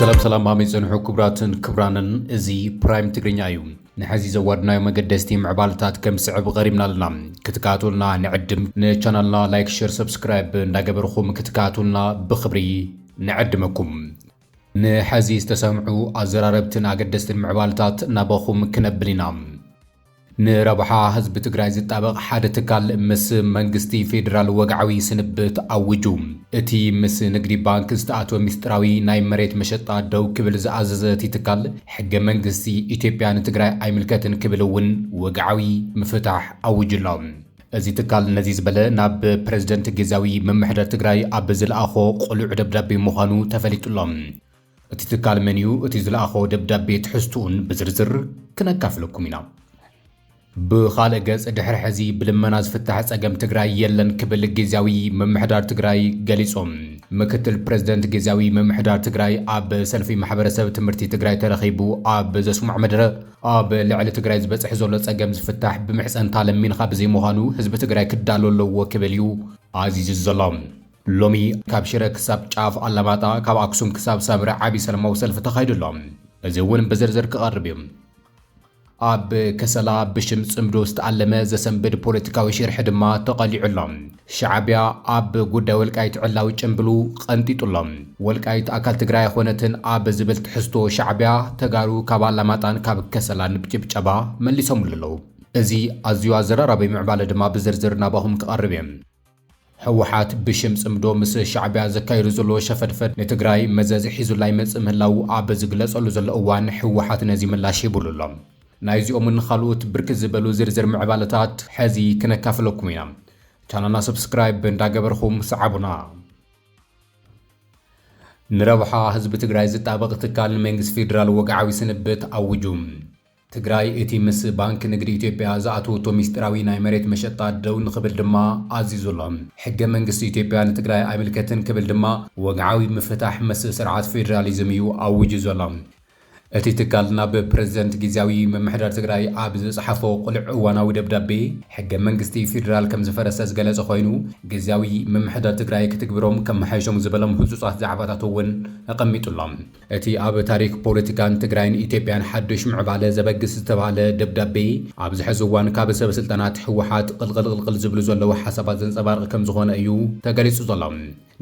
ሰላም ሰላም ኣመይ ፀንሑ ክቡራትን ክቡራንን እዚ ፕራይም ትግርኛ እዩ ንሐዚ ዘዋድናዮ መገደስቲ ምዕባልታት ከም ስዕብ ቐሪብና ኣለና ክትከታተሉና ንዕድም ንቻናልና ላይክ ሸር ሰብስክራይብ እንዳገበርኹም ክትከታተሉና ብክብሪ ንዕድመኩም ንሐዚ ዝተሰምዑ ኣዘራረብትን ኣገደስትን ምዕባልታት ናባኹም ክነብል ኢና ንረብሓ ህዝቢ ትግራይ ዝጣበቕ ሓደ ትካል ምስ መንግስቲ ፌዴራል ወግዓዊ ስንብት ኣዊጁ። እቲ ምስ ንግዲ ባንክ ዝተኣትወ ሚስጥራዊ ናይ መሬት መሸጣ ደው ክብል ዝኣዘዘ እቲ ትካል፣ ሕገ መንግስቲ ኢትዮጵያ ንትግራይ ኣይምልከትን ክብል እውን ወግዓዊ ምፍታሕ ኣዊጁ ኣሎ። እዚ ትካል ነዚ ዝበለ ናብ ፕረዚደንት ግዝያዊ ምምሕደር ትግራይ ኣብ ዝለኣኾ ቅሉዕ ደብዳቤ ምዃኑ ተፈሊጡ ኣሎ። እቲ ትካል መን እዩ እቲ ዝለኣኾ ደብዳቤ ትሕዝትኡን ብዝርዝር ክነካፍለኩም ኢና። ብኻልእ ገፅ ድሕሪ ሕዚ ብልመና ዝፍታሕ ፀገም ትግራይ የለን ክብል ጊዚያዊ ምምሕዳር ትግራይ ገሊፁ። ምክትል ፕረዚደንት ጊዚያዊ ምምሕዳር ትግራይ ኣብ ሰልፊ ማሕበረሰብ ትምህርቲ ትግራይ ተረኺቡ ኣብ ዘስምዖ መደረ ኣብ ልዕሊ ትግራይ ዝበፅሕ ዘሎ ፀገም ዝፍታሕ ብምሕፀንታ ለሚንኻ ብዘይምዃኑ ህዝቢ ትግራይ ክዳሎ ኣለዎ ክብል እዩ ኣዚዙ ዘሎ። ሎሚ ካብ ሽረ ክሳብ ጫፍ ኣላማጣ፣ ካብ ኣክሱም ክሳብ ሳምረ ዓቢ ሰለማዊ ሰልፊ ተኻይዱ ኣሎ። እዚ እውን ብዝርዝር ክቐርብ እዩ። ኣብ ከሰላ ብሽም ጽምዶ ዝተኣለመ ዘሰንብድ ፖለቲካዊ ሽርሒ ድማ ተቐሊዑ ኣሎ። ሻዕቢያ ኣብ ጉዳይ ወልቃይት ዕላዊ ጭምብሉ ቐንጢጡ ኣሎ። ወልቃይት ኣካል ትግራይ ኣይኾነትን ኣብ ዝብል ትሕዝቶ ሻዕቢያ ተጋሩ ካብ ኣላማጣን ካብ ከሰላን ብጭብጨባ መሊሶምሉ ኣለዉ። እዚ ኣዝዩ ኣዘራራቢ ምዕባለ ድማ ብዝርዝር ናባኹም ክቐርብ እየ። ህወሓት ብሽም ፅምዶ ምስ ሻዕቢያ ዘካይዶ ዘሎ ሸፈድፈድ ንትግራይ መዘዝ ሒዙላ ይመፅእ ምህላዉ ኣብ ዝግለፀሉ ዘሎ እዋን ህወሓት ነዚ ምላሽ ሂቡሉ ኣሎ። ናይዚኦምን ኻልኦት ብርክት ዝበሉ ዝርዝር ምዕባለታት ሐዚ ክነካፍለኩም ኢና። ቻናልና ሰብስክራይብ እንዳገበርኹም ሰዓቡና። ንረብሓ ህዝቢ ትግራይ ዝጣበቕ ትካል ንመንግስቲ ፌዴራል ወግዓዊ ስንብት ኣዊጁ። ትግራይ እቲ ምስ ባንኪ ንግዲ ኢትዮጵያ ዝኣተወቶ ሚስጢራዊ ናይ መሬት መሸጣ ደው ንኽብል ድማ ኣዚዙ ኣሎ። ሕገ መንግስቲ ኢትዮጵያ ንትግራይ ኣይምልከትን ክብል ድማ ወግዓዊ ምፍታሕ ምስ ስርዓት ፌደራሊዝም እዩ ኣዊጁ ዘሎ። እቲ ትካል ናብ ፕረዚደንት ጊዚያዊ ምምሕዳር ትግራይ ኣብ ዝጸሓፎ ቅሉዕ እዋናዊ ደብዳቤ፣ ሕገ መንግስቲ ፌደራል ከም ዝፈረሰ ዝገለጸ ኮይኑ፣ ጊዚያዊ ምምሕዳር ትግራይ ክትግብሮም ከመሓይሾም ዝበሎም ህጹጻት ዛዕባታት'ውን ኣቐሚጡ ኣሎ። እቲ ኣብ ታሪክ ፖለቲካን ትግራይን ኢትዮጵያን ሓዱሽ ምዕባለ ዘበግስ ዝተብሃለ ደብዳቤ፣ ኣብዚ ሕዚ እዋን ካብ ሰብ ስልጣናት ህወሓት ቕልቕልቕልቕል ዝብሉ ዘለዉ ሓሳባት ዘንፀባርቕ ከምዝኾነ እዩ ተገሊፁ ዘሎ።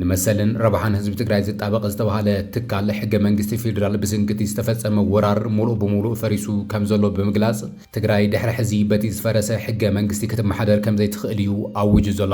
ንመሰልን ረብሓን ህዝቢ ትግራይ ዝጣበቕ ዝተብሃለ ትካል ሕገ መንግስቲ ፌዴራል ብስንክቲ ዝተፈፀመ ወራር ሙሉእ ብሙሉእ ፈሪሱ ከምዘሎ ብምግላፅ ትግራይ ድሕሪ ሕዚ በቲ ዝፈረሰ ሕገ መንግስቲ ክትመሓደር ከምዘይትኽእል እዩ ኣዊጁ ዘሎ።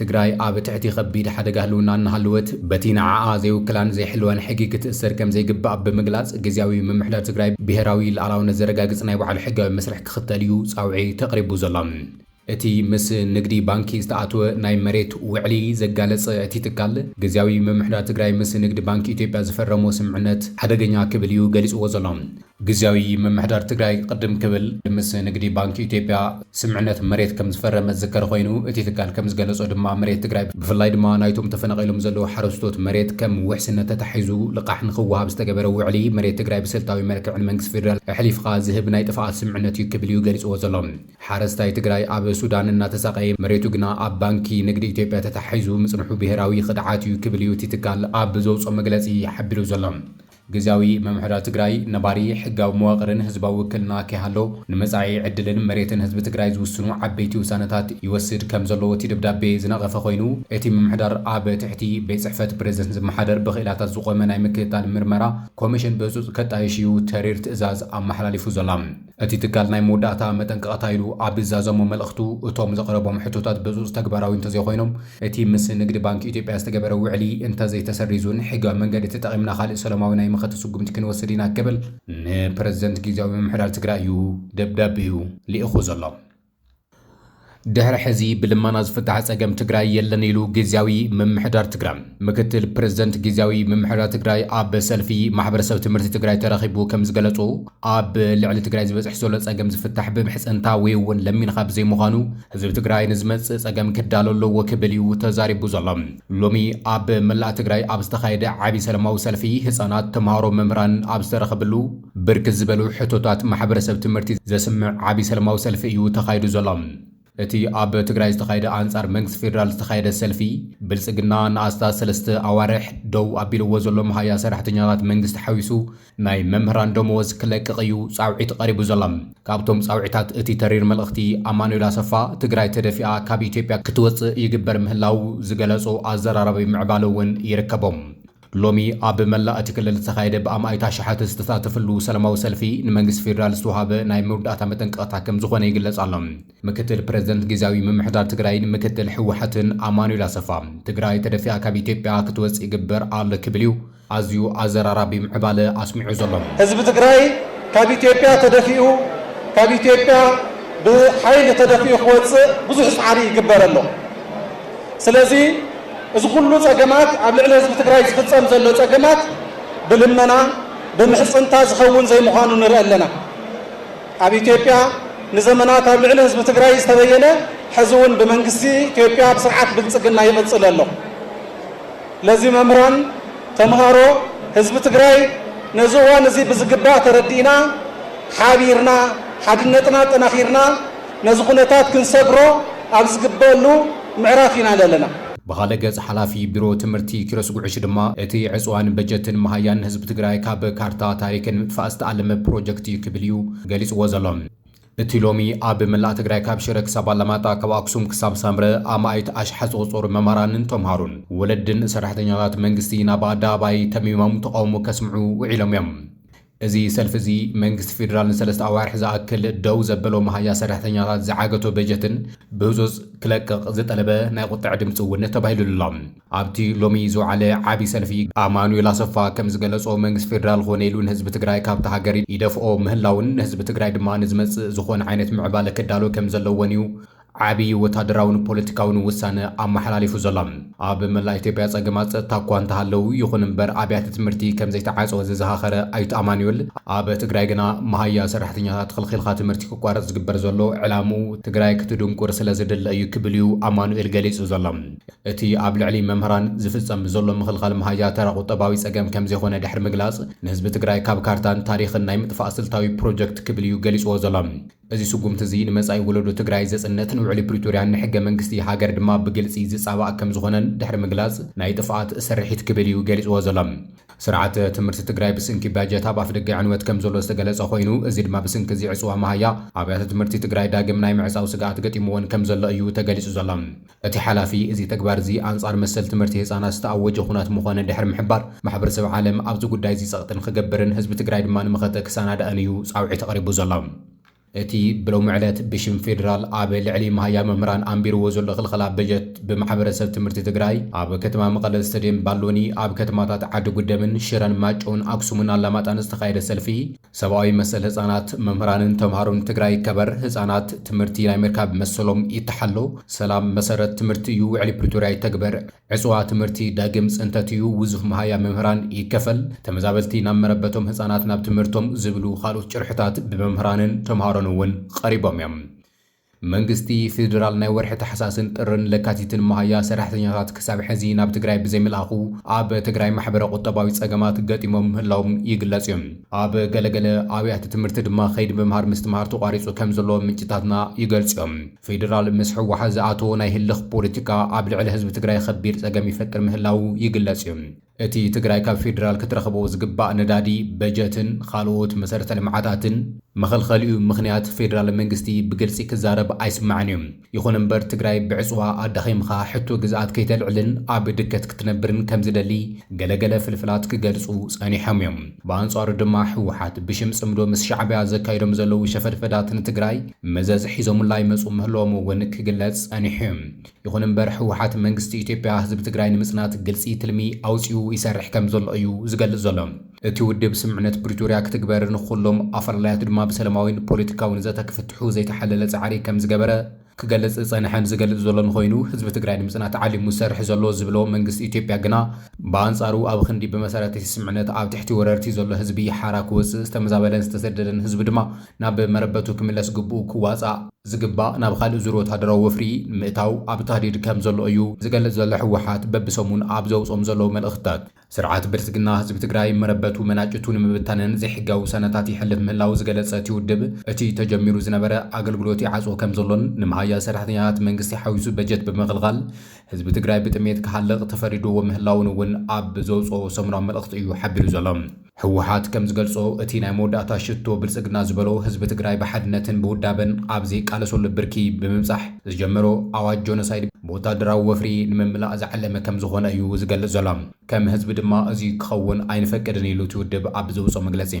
ትግራይ ኣብ ትሕቲ ከቢድ ሓደጋ ህልውና እናሃለወት በቲ ንዓኣ ዘይውክላን ዘይሕልዋን ሕጊ ክትእሰር ከምዘይግባእ ብምግላፅ ግዝያዊ ምምሕዳር ትግራይ ብሄራዊ ልኣላውነት ዘረጋግፅ ናይ ባዕሉ ሕጋዊ መስርሕ ክኽተል እዩ ፃውዒ ተቕሪቡ ዘሎ። እቲ ምስ ንግዲ ባንኪ ዝተኣትወ ናይ መሬት ውዕሊ ዘጋለፀ እቲ ትካል፣ ግዝያዊ ምምሕዳር ትግራይ ምስ ንግዲ ባንኪ ኢትዮጵያ ዝፈረሞ ስምምዕነት ሓደገኛ ክብል እዩ ገሊፅዎ ዘሎ። ግዝያዊ ምምሕዳር ትግራይ ቕድም ክብል ምስ ንግዲ ባንኪ ኢትዮጵያ ስምምዕነት መሬት ከምዝፈረመ ዝዝከር ኾይኑ እቲ ትካል ከምዝገለፆ ድማ መሬት ትግራይ ብፍላይ ድማ ናይቶም ተፈናቒሎም ዘለዉ ሓረስቶት መሬት ከም ውሕስነት ተታሒዙ ልቓሕ ንኽወሃብ ዝተገበረ ውዕሊ መሬት ትግራይ ብስልታዊ መልክዕ ንመንግስቲ ፌዴራል ኣሕሊፍኻ ዝህብ ናይ ጥፍኣት ስምምዕነት እዩ ክብል እዩ ገሊፅዎ ዘሎ። ሓረስታይ ትግራይ ኣብ ሱዳን እናተሳቐየ መሬቱ ግና ኣብ ባንኪ ንግዲ ኢትዮጵያ ተታሒዙ ምፅንሑ ብሄራዊ ኽድዓት እዩ ክብል እዩ እቲ ትካል ኣብ ዘውፅኦ መግለፂ ሓቢሩ ዘሎ። ግዝያዊ ምምሕዳር ትግራይ ነባሪ ሕጋዊ መዋቕርን ህዝባዊ ውክልና ከይሃሎ ንመጻኢ ዕድልን መሬትን ህዝቢ ትግራይ ዝውስኑ ዓበይቲ ውሳነታት ይወስድ ከም ዘሎ እቲ ደብዳቤ ዝነቐፈ ኮይኑ፣ እቲ ምምሕዳር ኣብ ትሕቲ ቤት ጽሕፈት ፕረዚደንት ዝመሓደር ብክኢላታት ዝቖመ ናይ ምክትታል ምርመራ ኮሚሽን ብህጹጽ ከጣይሽ እዩ ተሪር ትእዛዝ ኣመሓላሊፉ ዘሎ። እቲ ትካል ናይ መወዳእታ መጠንቀቕታ ኢሉ ኣብ ዛዘሞ መልእኽቱ፣ እቶም ዘቕረቦም ሕቶታት ብህፁፅ ተግባራዊ እንተዘይኾይኖም፣ እቲ ምስ ንግድ ባንኪ ኢትዮጵያ ዝተገበረ ውዕሊ እንተዘይተሰሪዙን ሕጋዊ መንገዲ ተጠቒምና ካሊእ ሰለማዊ ናይ መኸተ ስጉምቲ ክንወስድ ኢና ክብል ንፕረዚደንት ጊዚያዊ ምምሕዳር ትግራይ እዩ ደብዳቤኡ ልኢኹ ዘሎ። ድሕሪ ሕዚ ብልመና ዝፍታሕ ፀገም ትግራይ የለን ኢሉ ጊዜያዊ ምምሕዳር ትግራይ። ምክትል ፕሬዝደንት ጊዜያዊ ምምሕዳር ትግራይ ኣብ ሰልፊ ማሕበረሰብ ትምህርቲ ትግራይ ተረኺቡ ከምዝገለፆ ኣብ ልዕሊ ትግራይ ዝበፅሕ ዘሎ ፀገም ዝፍታሕ ብምሕፅንታ ወይ እውን ለሚንኻ ብዘይምዃኑ ህዝቢ ትግራይ ንዝመፅእ ፀገም ክዳሎ ኣለዎ ክብል እዩ ተዛሪቡ ዘሎ። ሎሚ ኣብ መላእ ትግራይ ኣብ ዝተኻየደ ዓብይ ሰለማዊ ሰልፊ ህፃናት፣ ተምሃሮ፣ መምህራን ኣብ ዝተረኸብሉ ብርክት ዝበሉ ሕቶታት ማሕበረሰብ ትምህርቲ ዘስምዕ ዓብይ ሰለማዊ ሰልፊ እዩ ተኻይዱ ዘሎ። እቲ ኣብ ትግራይ ዝተኻየደ ኣንፃር መንግስቲ ፌዴራል ዝተኻየደ ሰልፊ ብልፅግና ንኣስታት ሰለስተ ኣዋርሕ ደው ኣቢልዎ ዘሎ መሃያ ሰራሕተኛታት መንግስቲ ሓዊሱ ናይ መምህራን ደመወዝ ክለቅቕ እዩ ፃውዒት ቐሪቡ ዘሎ። ካብቶም ፃውዒታት እቲ ተሪር መልእኽቲ ኣማኑኤል ኣሰፋ ትግራይ ተደፊኣ ካብ ኢትዮጵያ ክትወፅእ ይግበር ምህላዉ ዝገለፆ ኣዘራራቢ ምዕባለ እውን ይርከቦም። ሎሚ ኣብ መላእ እቲ ክልል ዝተኻየደ ብኣማኢት ኣሽሓት ዝተሳተፍሉ ሰላማዊ ሰልፊ ንመንግስቲ ፌዴራል ዝተውሃበ ናይ መውዳእታ መጠንቀቕታ ከምዝኾነ ይግለፅ ኣሎ። ምክትል ፕረዚደንት ጊዚያዊ ምምሕዳር ትግራይን ምክትል ህወሓትን ኣማኑኤል ኣሰፋ ትግራይ ተደፊኣ ካብ ኢትዮጵያ ክትወፅእ ይግበር ኣሎ ክብል እዩ ኣዝዩ ኣዘራራቢ ምዕባለ ኣስሚዑ ዘሎ። ህዝቢ ትግራይ ካብ ኢትዮጵያ ተደፊኡ ካብ ኢትዮጵያ ብሓይሊ ተደፊኡ ክወፅእ ብዙሕ ፃዕሪ ይግበር ኣሎ። ስለዚ እዚ ኩሉ ፀገማት ኣብ ልዕሊ ህዝቢ ትግራይ ዝፍፀም ዘሎ ፀገማት ብልመና ብምሕፅንታ ዝኸውን ዘይምዃኑ ንርኢ ኣለና። ኣብ ኢትዮጵያ ንዘመናት ኣብ ልዕሊ ህዝቢ ትግራይ ዝተበየነ ሕዚ እውን ብመንግስቲ ኢትዮጵያ ኣብ ስርዓት ብልፅግና ይቕፅል ኣሎ። ለዚ መምህራን፣ ተምሃሮ፣ ህዝቢ ትግራይ ነዚ እዋን እዚ ብዝግባእ ተረዲእና ሓቢርና ሓድነትና ኣጠናኺርና ነዚ ኩነታት ክንሰግሮ ኣብ ዝግበእሉ ምዕራፍ ኢና ለለና። ብኻልእ ገፅ ሓላፊ ቢሮ ትምህርቲ ኪሮስ ጉዕሽ ድማ እቲ ዕፅዋን በጀትን መሃያን ህዝቢ ትግራይ ካብ ካርታ ታሪክ ንምጥፋእ ዝተኣለመ ፕሮጀክት እዩ ክብል እዩ ገሊፅዎ ዘሎ። እቲ ሎሚ ኣብ መላእ ትግራይ ካብ ሽረ ክሳብ ኣላማጣ ካብ ኣክሱም ክሳብ ሳምረ ኣማኢት ኣሽሓት ዝቑፀሩ መምሃራንን ተምሃሮን ወለድን ሰራሕተኛታት መንግስቲ ናብ ኣደባባይ ተሚሞም ተቓውሞ ከስምዑ ውዒሎም እዮም። እዚ ሰልፊ እዚ መንግስቲ ፌዴራል ንሰለስተ ኣዋርሕ ዝኣክል ደው ዘበሎ መሃያ ሰራሕተኛታት ዝዓገቶ በጀትን ብህፁፅ ክለቅቕ ዝጠለበ ናይ ቁጠዐ ድምፂ እውን ተባሂሉሉ ኣሎ። ኣብቲ ሎሚ ዝወዓለ ዓብዪ ሰልፊ ኣማኑኤል ኣሰፋ ከምዝገለፆ መንግስቲ ፌዴራል ኾነ ኢሉ ንህዝቢ ትግራይ ካብታ ሃገር ይደፍኦ ምህላውን ንህዝቢ ትግራይ ድማ ንዝመፅእ ዝኾነ ዓይነት ምዕባለ ክዳሎ ከምዘለዎን እዩ ዓብዪ ወታደራውን ፖለቲካውን ውሳነ ኣመሓላሊፉ ዘሎ። ኣብ መላእ ኢትዮጵያ ፀገማት ፀጥታ እኳ እንተሃለው፣ ይኹን እምበር ኣብያተ ትምህርቲ ከምዘይተዓፀወ ዘዘኻኸረ ኣይተ ኣማኑኤል፣ ኣብ ትግራይ ግና መሃያ ሰራሕተኛታት ኽልኺልኻ ትምህርቲ ክቋረፅ ዝግበር ዘሎ ዕላምኡ ትግራይ ክትድንቁር ስለዝድለ እዩ ክብል እዩ ኣማኑኤል ገሊፁ ዘሎ። እቲ ኣብ ልዕሊ መምህራን ዝፍፀም ዘሎ ምኽልኻል መሃያ ተራ ቁጠባዊ ፀገም ከምዘይኾነ ድሕሪ ምግላፅ፣ ንህዝቢ ትግራይ ካብ ካርታን ታሪኽን ናይ ምጥፋእ ስልታዊ ፕሮጀክት ክብል እዩ ገሊፅዎ ዘሎ። እዚ ስጉምቲ እዚ ንመጻኢ ወለዶ ትግራይ ዘጽንት፣ ንውዕሊ ፕሪቶርያን ንሕገ መንግስቲ ሃገር ድማ ብግልጺ ዝጻባእ ከም ዝኾነን ድሕሪ ምግላጽ፣ ናይ ጥፍኣት ስርሒት ክብል እዩ ገሊጽዎ ዘሎ። ስርዓተ ትምህርቲ ትግራይ ብስንኪ ባጀት ኣብ ኣፍደገ ዕንወት ከም ዘሎ ዝተገለጸ ኮይኑ፣ እዚ ድማ ብስንኪ እዚ ዕጽዋ መሃያ ኣብያተ ትምህርቲ ትግራይ ዳግም ናይ ምዕጻው ስግኣት ገጢምዎን ከም ዘሎ እዩ ተገሊጹ ዘሎ። እቲ ሓላፊ፣ እዚ ተግባር'ዚ ኣንጻር መሰል ትምህርቲ ህጻናት ዝተኣወጀ ኩናት ምኾነ ድሕሪ ምሕባር፣ ማሕበረሰብ ዓለም ኣብዚ ጉዳይ'ዚ ጸቕጢ ንኽገብርን ህዝቢ ትግራይ ድማ ንመኸተ ክሰናዳእን እዩ ጻውዒት ኣቕሪቡ ዘሎ። እቲ ብሎሚ ዕለት ብሽም ፌደራል ኣብ ልዕሊ መሃያ መምህራን ኣንቢርዎ ዘሎ ክልኸላ በጀት ብማሕበረሰብ ትምህርቲ ትግራይ ኣብ ከተማ መቐለ ስተድየም ባሎኒ ኣብ ከተማታት ዓዲ ጉደምን ሽረን ማይጨውን ኣክሱምን ኣላማጣን ዝተኻየደ ሰልፊ ሰብኣዊ መሰል ህፃናት፣ መምህራንን ተምሃሮን ትግራይ ይከበር፣ ህፃናት ትምህርቲ ናይ ምርካብ መሰሎም ይተሓሎ፣ ሰላም መሰረት ትምህርቲ እዩ ውዕሊ ፕሪቶርያ ይተግበር፣ ዕፅዋ ትምህርቲ ዳግም ፅንተት እዩ ውዙፍ መሃያ መምህራን ይከፈል፣ ተመዛበልቲ ናብ መረበቶም ህፃናት ናብ ትምህርቶም ዝብሉ ካልኦት ጭርሕታት ብመምህራንን ተምሃሮን እውን ቐሪቦም እዮም። መንግስቲ ፌዴራል ናይ ወርሒ ታሕሳስን ጥርን ለካቲትን መሃያ ሰራሕተኛታት ክሳብ ሕዚ ናብ ትግራይ ብዘይምልኣኹ ኣብ ትግራይ ማሕበረ ቁጠባዊ ፀገማት ገጢሞም ምህላዎም ይግለፅ እዩ። ኣብ ገለገለ ኣብያተ ትምህርቲ ድማ ከይዲ ምምሃር ምስትምሃር ተቋሪፁ ከምዘሎ ምንጭታትና ይገልፁ እዮም። ፌዴራል ምስ ህወሓት ዝኣተዎ ናይ ህልኽ ፖለቲካ ኣብ ልዕሊ ህዝቢ ትግራይ ኸቢድ ፀገም ይፈጥር ምህላዉ ይግለፅ እዩ። እቲ ትግራይ ካብ ፌዴራል ክትረኽቦ ዝግባእ ነዳዲ፣ በጀትን ኻልኦት መሰረተ ልምዓታትን መኸልኸሊኡ ምኽንያት ፌዴራል መንግስቲ ብግልፂ ክዛረብ ኣይስማዕን እዩ። ይኹን እምበር ትግራይ ብዕፅዋ ኣዳኺምኻ ሕቶ ግዝኣት ከይተልዕልን ኣብ ድከት ክትነብርን ከምዝደሊ ገለ ገለ ፍልፍላት ክገልፁ ፀኒሖም እዮም። ብኣንፃሩ ድማ ህወሓት ብሽም ፅምዶ ምስ ሻዕቢያ ዘካይዶም ዘለዉ ሸፈድፈዳት ንትግራይ መዘዝ ሒዞሙላ ይመፁ ምህለዎም እውን ክግለፅ ፀኒሑ እዩ። ይኹን እምበር ህወሓት መንግስቲ ኢትዮጵያ ህዝቢ ትግራይ ንምፅናት ግልፂ ትልሚ ኣውፂኡ ይሰርሕ ከምዘሎ እዩ ዝገልፅ ዘሎ። እቲ ውድብ ስምምዕነት ፕሪቶርያ ክትግበር ንኹሎም ኣፈላላያት ድማ ብሰለማዊን ፖለቲካዊን ዘተ ክፍትሑ ዘይተሓለለ ፃዕሪ ከምዝገበረ ክገልፅ ዝፀንሐን ዝገልፅ ዘሎን ኾይኑ ህዝቢ ትግራይ ንምፅናት ዓሊሙ ዝሰርሕ ዘሎ ዝብሎ መንግስቲ ኢትዮጵያ ግና ብኣንፃሩ ኣብ ኽንዲ ብመሰረት እቲ ስምምዕነት ኣብ ትሕቲ ወረርቲ ዘሎ ህዝቢ ሓራ ክወፅእ ዝተመዛበለን ዝተሰደደን ህዝቢ ድማ ናብ መረበቱ ክምለስ ግብኡ ክዋፃእ ዝግባእ ናብ ኻልእ ዙር ወታደራዊ ወፍሪ ንምእታው ኣብ ታህዲድ ከም ዘሎ እዩ ዝገልፅ ዘሎ ህወሓት በቢሰሙን ኣብ ዘውፅኦም ዘለዉ መልእኽትታት። ስርዓት ብልፅግና ህዝቢ ትግራይ መረበቱ መናጭቱ ንምብታንን ዘይሕጋዊ ውሳነታት የሕልፍ ምህላዉ ዝገለፀ እቲ ውድብ እቲ ተጀሚሩ ዝነበረ ኣገልግሎት ይዓፅዎ ከም ዘሎን ንምሃያ ሰራሕተኛታት መንግስቲ ሓዊሱ በጀት ብምኽልኻል ህዝቢ ትግራይ ብጥሜት ክሃልቕ ተፈሪድዎ ምህላዉን እውን ኣብ ዘውፅኦ ሰሙናዊ መልእኽቲ እዩ ሓቢሩ ዘሎ። ህወሓት ከም ዝገልፆ እቲ ናይ መወዳእታ ሽቶ ብልፅግና ዝበሎ ህዝቢ ትግራይ ብሓድነትን ብውዳበን ኣብ ዘይቃለሰሉ ብርኪ ብምብፃሕ ዝጀመሮ ኣዋጅ ጆኖሳይድ ብወታደራዊ ወፍሪ ንምምላእ ዝዓለመ ከም ዝኾነ እዩ ዝገልፅ ዘሎ። ከም ህዝቢ ድማ እዙይ ክኸውን ኣይንፈቅድን ኢሉ እቲ ውድብ ኣብ ዘውፅኦ መግለፂ።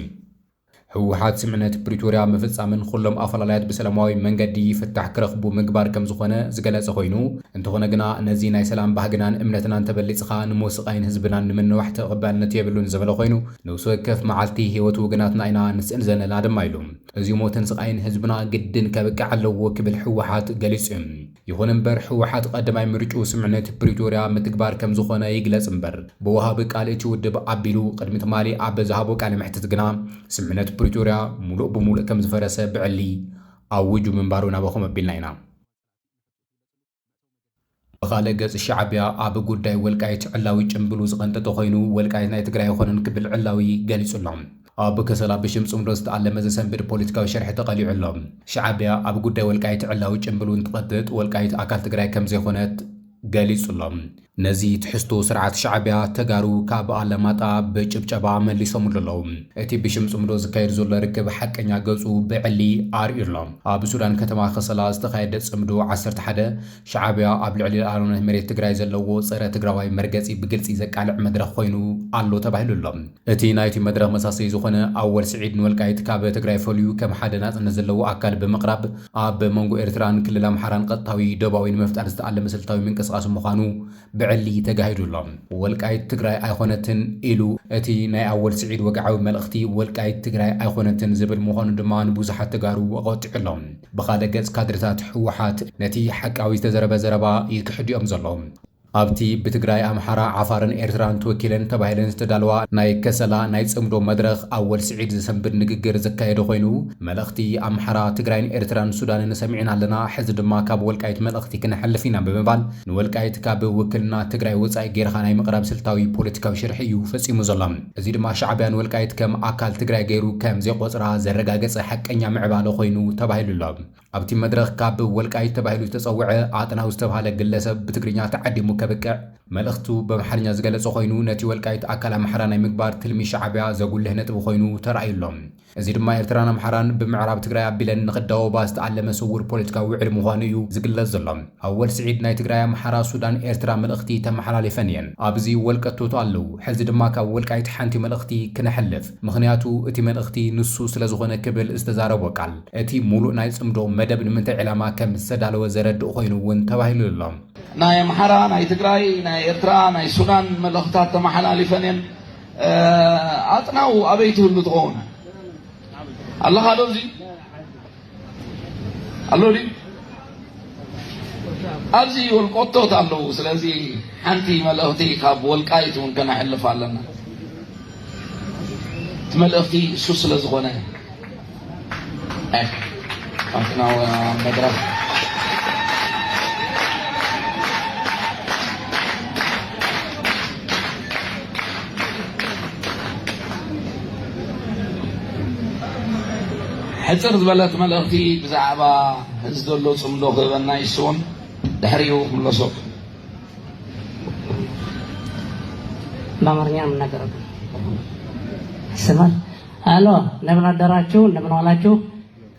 ህወሓት ስምዕነት ፕሪቶርያ ምፍፃምን ኹሎም ኣፈላላያት ብሰላማዊ መንገዲ ፍታሕ ክረኽቡ ምግባር ከም ዝኾነ ዝገለፀ ኾይኑ፣ እንተኾነ ግና ነዚ ናይ ሰላም ባህግናን እምነትናን ተበሊጽኻ ንሞት ስቓይን ህዝብናን ንምንዋሕ ተቐባልነት የብሉን ዝበለ ኮይኑ፣ ነብሲ ወከፍ መዓልቲ ህይወት ውግናትና ኢና ንስእን ዘለና ድማ ኢሉ። እዚ ሞትን ስቓይን ህዝብና ግድን ከብቅዕ ኣለዎ ክብል ህወሓት ገሊጹ እዩ። ይኹን እምበር ህወሓት ቐዳማይ ምርጭኡ ስምምዕነት ፕሪቶርያ ምትግባር ከምዝኾነ ይግለጽ እምበር ብወሃቢ ቃል እቲ ውድብ ኣቢሉ ቕድሚ ትማሊ ኣብ ዝሃቦ ቃለ መሕትት ግና ስምምዕነት ፕሪቶርያ ሙሉእ ብሙሉእ ከምዝፈረሰ ብዕሊ ኣዊጁ ምንባሩ ናባኹም ኣቢልና ኢና። ብኻልእ ገፅ ሻዕቢያ ኣብ ጉዳይ ወልቃይት ዕላዊ ጭምብሉ ዝቐንጠጠ ኮይኑ ወልቃይት ናይ ትግራይ ኣይኾነን ክብል ዕላዊ ገሊፁ ኣሎ። ኣብ ከሰላ ብሽም ፅምዶ ዝተኣለመ ዘሰንብድ ፖለቲካዊ ሸርሒ ተቐሊዑ ኣሎ። ሻዕቢያ ኣብ ጉዳይ ወልቃይት ዕላዊ ጭምብሉ እንትቐጥጥ ወልቃይት ኣካል ትግራይ ከምዘይኾነት ገሊፁ ኣሎ። ነዚ ትሕዝቶ ስርዓት ሻዕቢያ ተጋሩ ካብ ኣለማጣ ብጭብጨባ መሊሶምሉ ኣለው። እቲ ብሽም ጽምዶ ዝካየድ ዘሎ ርክብ ሓቀኛ ገጹ ብዕሊ ኣርእዩ ኣሎ። ኣብ ሱዳን ከተማ ከሰላ ዝተኻየደ ጽምዶ ዓሰርተ ሓደ፣ ሻዕቢያ ኣብ ልዕሊ ልኣላውነት መሬት ትግራይ ዘለዎ ጸረ ትግራዋይ መርገጺ ብግልጺ ዘቃልዕ መድረኽ ኮይኑ ኣሎ ተባሂሉ ኣሎ። እቲ ናይቲ መድረኽ መሳሰዪ ዝኾነ ኣወል ስዒድ ንወልቃይት ካብ ትግራይ ፈልዩ ከም ሓደ ናጽነት ዘለዎ ኣካል ብምቕራብ ኣብ መንጎ ኤርትራን ክልል ኣምሓራን ቐጥታዊ ዶባዊ ንምፍጣር ዝተኣለመ ስልታዊ ምንቅስቓስ ምዃኑ ብዕሊ ተጋሂዱ ኣሎ። ወልቃይት ትግራይ ኣይኾነትን ኢሉ። እቲ ናይ ኣወል ስዒድ ወግዓዊ መልእኽቲ ወልቃይት ትግራይ ኣይኾነትን ዝብል ምዃኑ ድማ ንብዙሓት ተጋሩ ኣቖጢዑ ኣሎ። ብኻልእ ገጽ ካድረታት ህወሓት ነቲ ሓቃዊ ዝተዘረበ ዘረባ ይክሕድ'ዮም ዘለዉ። ኣብቲ ብትግራይ፣ ኣምሓራ፣ ዓፋርን ኤርትራን ተወኪለን ተባሂለን ዝተዳለዋ ናይ ከሰላ ናይ ጽምዶ መድረኽ ኣወል ስዒድ ዘሰንብድ ንግግር ዘካየደ ኮይኑ፣ መልእኽቲ ኣምሓራ፣ ትግራይን ኤርትራን ሱዳንን ሰሚዕና ኣለና፣ ሕዚ ድማ ካብ ወልቃይት መልእኽቲ ክነሕልፍ ኢና ብምባል ንወልቃይት ካብ ውክልና ትግራይ ወጻኢ ገይርኻ ናይ ምቕራብ ስልታዊ ፖለቲካዊ ሽርሒ እዩ ፈጺሙ ዘሎ። እዚ ድማ ሻዕቢያ ንወልቃይት ከም ኣካል ትግራይ ገይሩ ከም ዘይቆጽራ ዘረጋገጸ ሓቀኛ ምዕባለ ኮይኑ ተባሂሉ ኣሎ። ኣብቲ መድረኽ ካብ ወልቃይት ተባሂሉ ዝተጸውዐ ኣጥናው ዝተብሃለ ግለሰብ ብትግርኛ ተዓዲሙ ከብቅዕ መልእኽቱ በምሓርኛ ዝገለጸ ኮይኑ ነቲ ወልቃይት ኣካል ኣምሓራ ናይ ምግባር ትልሚ ሻዕብያ ዘጉልህ ነጥቢ ኮይኑ ተራእዩ ኣሎ። እዚ ድማ ኤርትራን ኣምሓራን ብምዕራብ ትግራይ ኣቢለን ንኽዳወባ ዝተኣለመ ስውር ፖለቲካዊ ውዕል ምዃኑ እዩ ዝግለጽ ዘሎ። ኣወል ስዒድ ናይ ትግራይ፣ ኣምሓራ፣ ሱዳን፣ ኤርትራ መልእኽቲ ተመሓላሊፈን እየን። ኣብዚ ወልቀቶት ኣለው። ሕዚ ድማ ካብ ወልቃይት ሓንቲ መልእኽቲ ክነሕልፍ። ምኽንያቱ እቲ መልእኽቲ ንሱ ስለዝኾነ ክብል ዝተዛረቦ ቃል። እቲ ሙሉእ ናይ ፅምዶ መደብ ንምንታይ ዕላማ ከም ዝተዳለወ ዘረድእ ኾይኑ እውን ተባሂሉ ኣሎ። ናይ ኣምሓራ፣ ናይ ትግራይ፣ ናይ ኤርትራ፣ ናይ ሱዳን መልእኽታት ተመሓላሊፈን እየን። ኣጥናው ኣበይ ትህሉ ትኸውን ኣለኻ ዶ እዚ ኣሎ ድዩ? ኣብዚ ወልቆቶት ኣለዉ ስለዚ ሓንቲ መልእኽቲ ካብ ወልቃይት እውን ከነሕልፍ ኣለና እቲ መልእኽቲ እሱ ስለ ዝኾነ ኣትና መድረኽ ሕፅር ዝበለት መልእኽቲ ብዛዕባ ነዚ ዘሎ ጽምዶ ክህበና ይስውን ድሕሪኡ ክምለሰኩም። በአማርኛ ነው የምናገረው። ይሰማል። አሎ እንደምን አደራችሁ፣ እንደምን ዋላችሁ።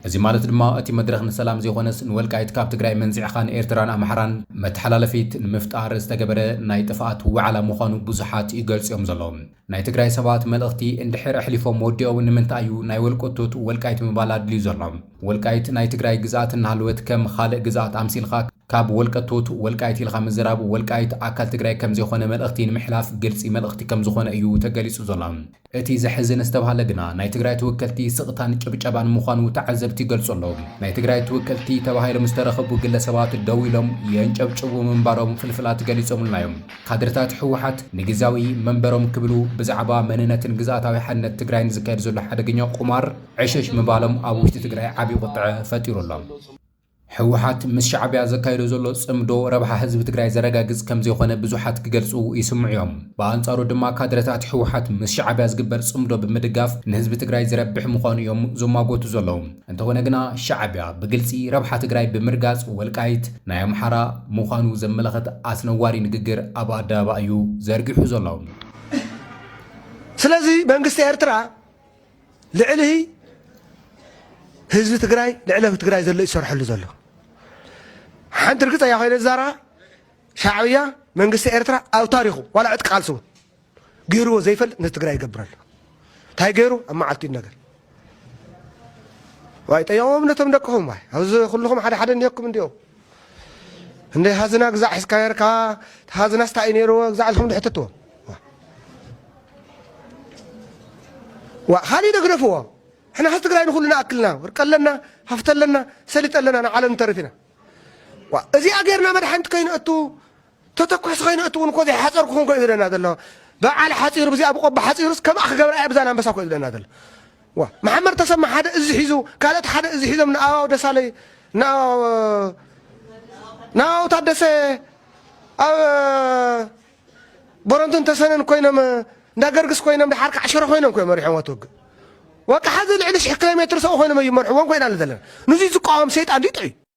እዚ ማለት ድማ እቲ መድረኽ ንሰላም ዘይኮነስ ንወልቃይት ካብ ትግራይ መንዚዕኻ ንኤርትራን ኣምሓራን መተሓላለፊት ንምፍጣር ዝተገበረ ናይ ጥፍኣት ውዓላ ምዃኑ ብዙሓት ይገልጽ እዮም ዘለዉ። ናይ ትግራይ ሰባት መልእኽቲ እንድሕር ኣሕሊፎም ወዲኦም ንምንታይ እዩ ናይ ወልቀቶት ወልቃይት ምባል ኣድልዩ ዘሎ? ወልቃይት ናይ ትግራይ ግዝኣት እናሃለወት ከም ኻልእ ግዝኣት ኣምሲልኻ ካብ ወልቀቶት ወልቃይት ኢልኻ ምዝራብ ወልቃይት ኣካል ትግራይ ከምዘይኾነ መልእኽቲ ንምሕላፍ ግልፂ መልእኽቲ ከምዝኾነ እዩ ተገሊፁ ዘሎ። እቲ ዘሕዝን ዝተብሃለ ግና ናይ ትግራይ ተወከልቲ ስቕታን ጭብጨባን ምዃኑ ተዓዘብቲ ይገልፁ ኣለው። ናይ ትግራይ ተወከልቲ ተባሂሎም ዝተረኸቡ ግለሰባት ደው ኢሎም የንጨብጭቡ ምንባሮም ፍልፍላት ገሊፆምልና እዮም። ካድረታት ህወሓት ንግዝያዊ መንበሮም ክብሉ ብዛዕባ መንነትን ግዝኣታዊ ሓድነት ትግራይን ዝካየድ ዘሎ ሓደገኛ ቁማር ዕሽሽ ምባሎም ኣብ ውሽጢ ትግራይ ዓብዪ ቁጥዐ ፈጢሩ ኣሎ። ህወሓት ምስ ሻዕቢያ ዘካይዶ ዘሎ ፅምዶ ረብሓ ህዝቢ ትግራይ ዘረጋግፅ ከምዘይኾነ ብዙሓት ክገልፁ ይስምዑ እዮም። ብኣንፃሩ ድማ ካድረታት ህወሓት ምስ ሻዕቢያ ዝግበር ፅምዶ ብምድጋፍ ንህዝቢ ትግራይ ዝረብሕ ምዃኑ እዮም ዝሟጎቱ ዘለዉ። እንተኾነ ግና ሻዕቢያ ብግልፂ ረብሓ ትግራይ ብምርጋፅ ወልቃይት ናይ ኣምሓራ ምዃኑ ዘመላኽት ኣስነዋሪ ንግግር ኣብ ኣደባባይ እዩ ዘርጊሑ ዘሎ። ስለዚ መንግስቲ ኤርትራ ልዕሊ ህዝቢ ትግራይ ልዕሊ ትግራይ ዘሎ ይሰርሐሉ ዘሎ ሓንቲ ርግፀኛ ኮይነ ዝዛረባ ሻዕብያ መንግስቲ ኤርትራ ኣብ ታሪኹ ዋላ ዕጥቂ ቃልሲ እውን ገይርዎ ዘይፈልጥ ንትግራይ ይገብር ኣሎ እንታይ ገይሩ ኣብ መዓልቲ ነገር ዋይ ጠየቆም ነቶም ደቅኹም ዋይ ኣብዚ ኩልኹም ሓደ ሓደ እኒኦኩም እንዲኦ እንደ ሃዝና ግዛዕ ሒዝካ ነርካ ሃዝናስ እንታይ እዩ ነይርዎ ግዛዕ ኢልኩም ንሕትትዎ ዋ ካልእ ደግደፍዎ ሕና ህዝ ትግራይ ንኩሉ ንኣክልና ወርቂ ኣለና ሃፍቲ ኣለና ሰሊጥ ኣለና ንዓለም ንተርፍ ኢና እዚኣ ገይርና መድሓንቲ ከይንእቱ ተተኩሕሲ ከይነ እትውን እኮ ዘይሓጸር ክኹን ኮዩ ዝደና ዘሎ በዓል ሓጺሩ ብዚኣ ብቆቦ ሓጺሩስ ከምኣ ክገብራ እያ ብዛን ኣንበሳ ኮዩ ዝደና ዘሎ ዋ መሓመድ ተሰማ ሓደ እዚ ሒዙ ካልኦት ሓደ እዚ ሒዞም ንኣባው ደሳለይ ንኣባው ንኣባው ታደሰ ኣብ ቦረንቱን ተሰነን ኮይኖም እንዳ ገርግስ ኮይኖም ድሓር ከዓ ሽረ ኮይኖም ኮዮም መሪሖም ኣትወግእ ወቃ ሓዚ ልዕሊ ሽሕ ኪሎ ሜትር ሰው ኮይኖም እዩ መርሕዎም ኮይና ዘለና ንዙይ ዝቃወም ሰይጣን ዲጥዑ